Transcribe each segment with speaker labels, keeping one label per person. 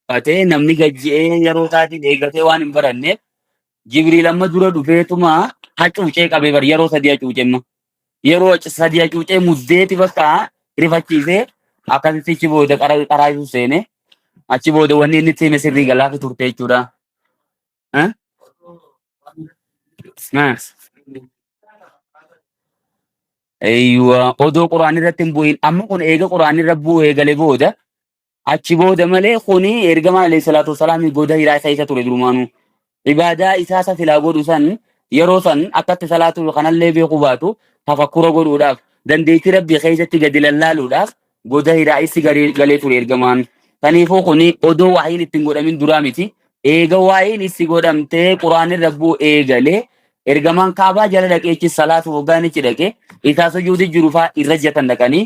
Speaker 1: Batee namni gajji'ee yeroo isaatiin eegatee waan hin baranneef Jibriil amma dura dhufeetuma hacuucee qabee bar yeroo sadii hacuucee amma yeroo hac- sadii hacuucee muddeeti bakka rifachiisee akkasitti achi booda qara qaraa isu seene achi booda wanni inni itti hime sirrii galaafi turte jechuudha. Eh? Eh. Eeyyuwa odoo quraan irratti hin bu'in amma kun eega quraan irra bu'ee gale booda Achi booda malee kuni ergamaa alayhi salaatu wasalaamii goda hiraa keessa ture durumaanuu. Ibaadaa isaa isa silaa godhu san yeroo san akkatti salaatuu kanallee beekuu baatu tafakkura godhuudhaaf dandeettii rabbii keessatti gadi lallaaluudhaaf goda hiraa issi galee galee ture ergamaan. Kaniifuu kuni odoo waahiin ittiin godhamin duraa miti. Eega waahiin issi godhamtee quraanni rabbuu eegalee ergamaan kaabaa jala dhaqeechi salaatu hoggaanichi dhaqe isaa sujuudi jirufaa irra jatan dhaqanii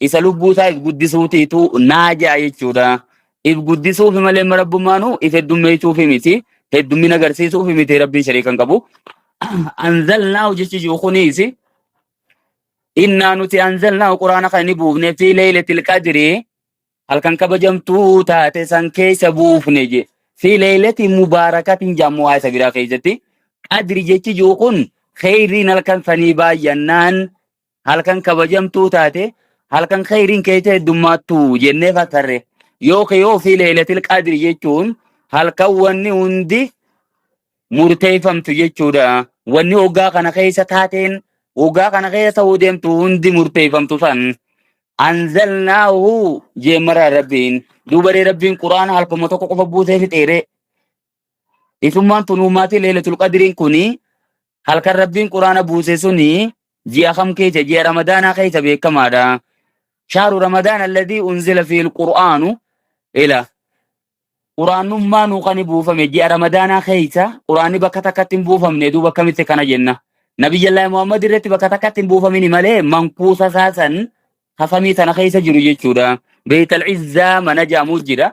Speaker 1: Isa lubbuu isaa if guddisuutiitu naa ja'a jechuudha. If guddisuufi malee amma rabbummaanu if heddummeessuufi miti. Heddummina agarsiisuufi miti rabbiin shariika hin qabu. Anzalnaahu jechi jiru kunis innaa nuti anzalnaahu quraana kan inni buufne fi leeylatil qadrii halkan kabajamtuu taate san keessa buufne je. Fi leeylati mubaarakatiin jaammoo waa isa biraa keessatti. Qadri jechi jiru kun kheyriin halkan sanii baay'annaan halkan kabajamtuu taate halkan khayriin keessa heddummaattu jennee fakkarre yookiin yoo fi leelatil qadri jechuun halkan wanni hundi murteeffamtu jechuudha wanni hoggaa kana keessa taateen hoggaa kana keessa ta'uu deemtu hundi murteeffamtu san anzalnaahu jeemara rabbiin duubaree rabbiin quraan halkuma tokko qofa buusee fixeere Isummaan tun uummaati leelatul qadiriin kuni halkan rabbiin quraana buuse suni ji'a kam keessa ji'a ramadaanaa keessa beekamaadha. Shaaru ramadaan alladii unzila fiil qur'aanu ila quraannummaa nuu kan buufame ji'a ramadaanaa keessa quraanni bakka takkatti hin buufamne duuba akkamitti kana jenna. Nabiyyallaahi Muhammad irratti bakka takkatti hin buufamini malee mankuusa isaa san hasamii tana keessa jiru jechuudha. Beeytal Izzaa mana jaamu jira.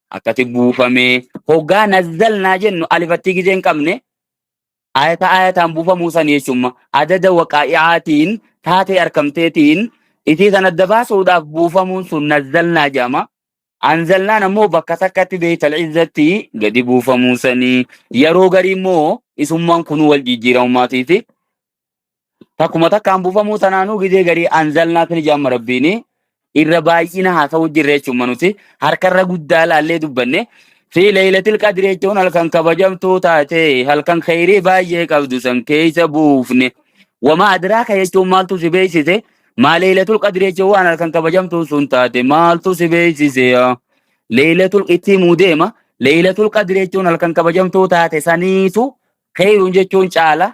Speaker 1: akkati buufamee hoggaa nazzalnaa jennu alifattii gizee hin qabne ayata ayataan buufamuu san jechuun adada waqaa'iaatiin taatee arkamteetiin isii san adda baasuudhaaf buufamuun sun nazzalnaa jedhama. Anzalnaan ammoo bakka takkatti beeytal izzatti gadi buufamuu sanii yeroo garii immoo isummaan kunuu wal jijjiiramumaatiiti. Takkuma takkaan buufamuu tanaanuu gizee garii anzalnaa kan ijaan marabbiini irra baay'ina haasa'uu jirre jechuun manuti harkarra guddaa laallee dubbanne fi leeylatil qadri jechuun halkan kabajamtuu taate halkan kheyrii baay'ee qabdu san keeysa buufne wama adraaka jechuun maaltu si beeksise maa leeylatul qadri jechuun waan halkan kabajamtuu sun taate maaltu si beeksise yaa leeylatul itti himuu deema leeylatul qadri jechuun halkan kabajamtuu taate saniitu kheyruun jechuun caala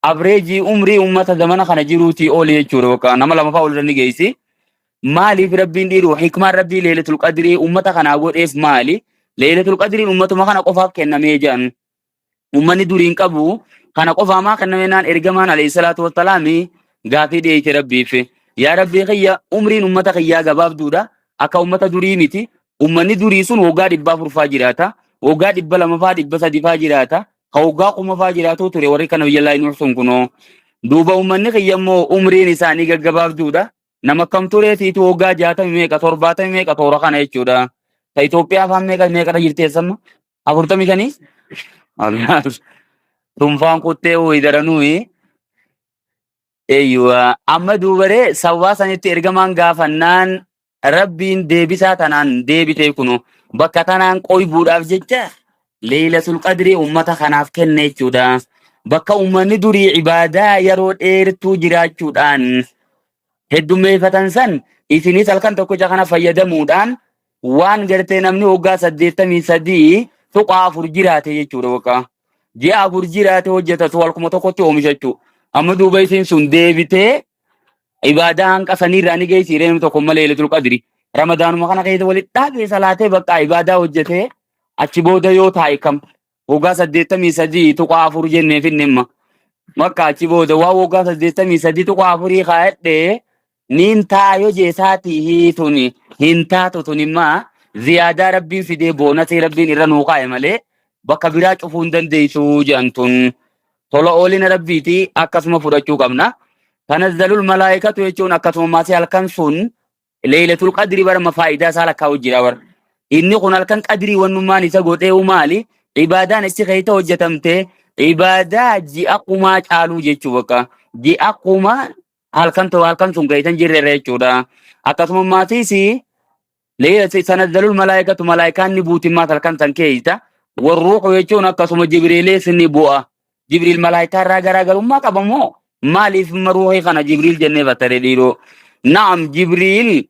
Speaker 1: Avreejii umrii ummata zamana kana jiruutii oli jechuudha bakka nama lama fa'aa olirra ni geessi. Maaliif rabbiin dhiiru hikmaan rabbii leelatul qadirii ummata kanaa godheef maali? Leelatul qadiriin ummatuma kana qofaaf kennamee jedhan. Ummanni duriin qabu kana qofaa maa kennamee naan ergamaan alayhi salaatu wassalaami gaafii dhiyeesse rabbiif. Yaa rabbii kiyya umriin ummata kiyyaa gabaabduudha akka ummata durii miti. Ummanni durii sun waggaa dhibbaa furfaa jiraata. Waggaa dhibba lamafaa dhibba sadifaa jiraata. ka waggaa kuma faa jiraatuu ture warri kana biyya laa nuuf sun kunoo duuba uummanni kiyya immoo umriin isaanii gaggabaabduudha nama kam turee siitu waggaa jaatami meeqa torbaatami meeqa toora kana jechuudha ta Itoophiyaa faan meeqa meeqadha jirti eessamma afurtami shanii Allaah. tunfaan kuttee wayii daranuuyi Eeyyuwa, amma duubaree sababaa sanitti ergamaan gaafannaan Rabbiin deebisaa tanaan deebitee kuno bakka tanaan qoybuudhaaf jecha Leeylatul Qadrii ummata kanaaf kenne jechuudha. Bakka ummanni durii ibaadaa yeroo dheertuu jiraachuudhaan heddummeeffatan san isinis halkan tokkicha kana fayyadamuudhaan waan gartee namni waggaa saddeettamii sadii tuqaa afur jiraate jechuudha waggaa ji'a afur jiraate hojjeta tu halkuma tokkotti oomishachuu amma duuba isiin sun deebitee ibaadaa hanqa saniirraa ni geessi reenu tokko malee ilatul qadri ramadaanuma kana keessa walitti dhaabee salaatee bakka ibaadaa hojjetee achi booda yoo taa'e kam waggaa saddeettamii sadii tuqaa afur jennee finne imma makka achi booda waan waggaa saddeettamii sadii tuqaa afurii kaa'adhee niin taayoo jeesaatii hii tuni hin taatu tuni immaa ziyaadaa rabbiin fidee boonasii rabbiin irra nuu kaa'e malee bakka biraa cufuu hin dandeessuu jedhan tun tola oolina rabbiiti akkasuma fudhachuu qabna. Tanazzalul malaa'ikatu jechuun akkasuma maasii halkan sun Leeylatul qadri bara ma faayidaa isaa lakkaa'u jira bara. Inni kun halkan qadrii wannummaan isa godheewu maali? Ibaadaan issi keessa hojjetamte ibaadaa ji'a kumaa caaluu jechuu bakka. Ji'a kumaa halkan ta'u halkan sun keessa hin jirre jechuudha. Akkasuma maatiis leeylati tanazzalul malaayikatu malaayikaan ni buuti maat halkan san keessa. Warruuqu jechuun akkasuma jibriilees ni bu'a. Jibriil malaayikaa irraa garaagarummaa qaba moo? Maaliif imma ruuhii kana Jibriil jennee fassare dhiiroo? Naam Jibriil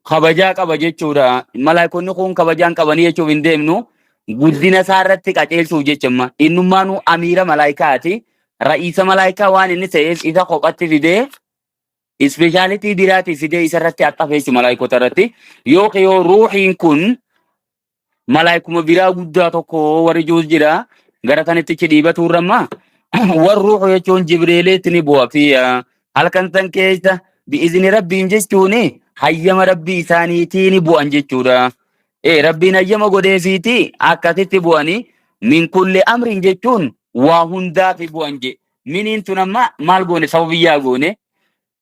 Speaker 1: kabajaa qaba jechuudha. Malaayikonni kun kabajaa hin qabanii jechuuf hin deemnu. Guddina isaa irratti qajeelchuuf jecha imma. Innummaanuu amiira malaayikaati. Ra'iisa malaayikaa waan inni ta'eef isa kophatti fidee ispeeshaalitii biraatii fidee isa irratti axxafeessu malaayikota irratti. Yookiin yoo ruuhiin kun malaaykuma biraa guddaa tokko warri juus jira gara tanittichi dhiibatu irramma war ruuxu jechuun jibriiliitti ni bu'a fi ah, halkan san keessa bi'izni rabbiin jechuun hayyama rabbii isaaniitii ni bu'an jechuudha. Ee rabbiin hayyama godheefiiti akkasitti bu'anii min kulli amriin jechuun waa hundaa fi bu'an jedhe. Miniin tun amma maal goone sababiyyaa goone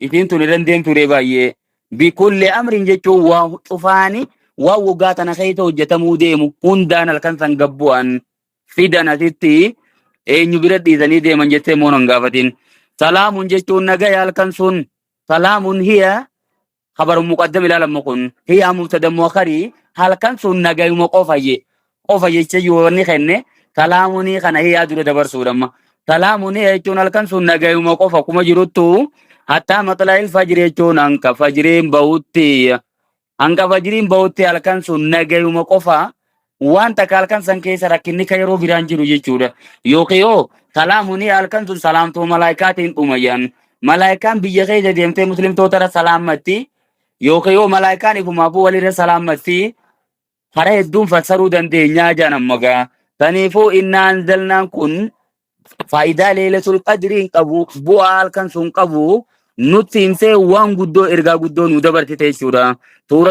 Speaker 1: Isiin tun irra hin deemtu ree baay'ee. Bikulli amriin jechuun waa cufaani waan waggaa tana keessa hojjetamuu deemu hundaan halkan san gabbu'an fidan asitti eenyu bira dhiisanii deeman jettee immoo hin gaafatin. Salaamun jechuun nagaya halkan sun salaamun hiya habarun muqaddam ilaalamu kun hiya mubtada muakhari halkan sun nagayuma qofa je qofa jecha yoo inni kenne salaamunii kana hiyaa dura dabarsuudhamma. Salaamunii jechuun halkan sun nagayuma qofa kuma jiruttu hattaa maxlaa'il fajri jechuun hanga fajriin bahutti hanga fajriin bahutti halkan sun nagayuma qofa waan takka halkan san keessa rakkinni ka yeroo biraan jiru jechuudha. Yookiin yoo salaamunii halkan sun salaamtuu malaayikaatiin dhumayyan. Malaayikaan biyya keessa deemtee muslimtoota irra salaammatti yookiin yoo malaayikaan ifumaafuu walirra salaammatti Karaa hedduun fassaruu dandeenyaa jedhan amma gaa. Kaniifuu innaa anzalnaan kun faayidaa leelatul qadrii hin qabu bu'aa halkan sun qabu nutti himtee waan guddoo ergaa guddoo nu dabarsite jechuudha. Suuraa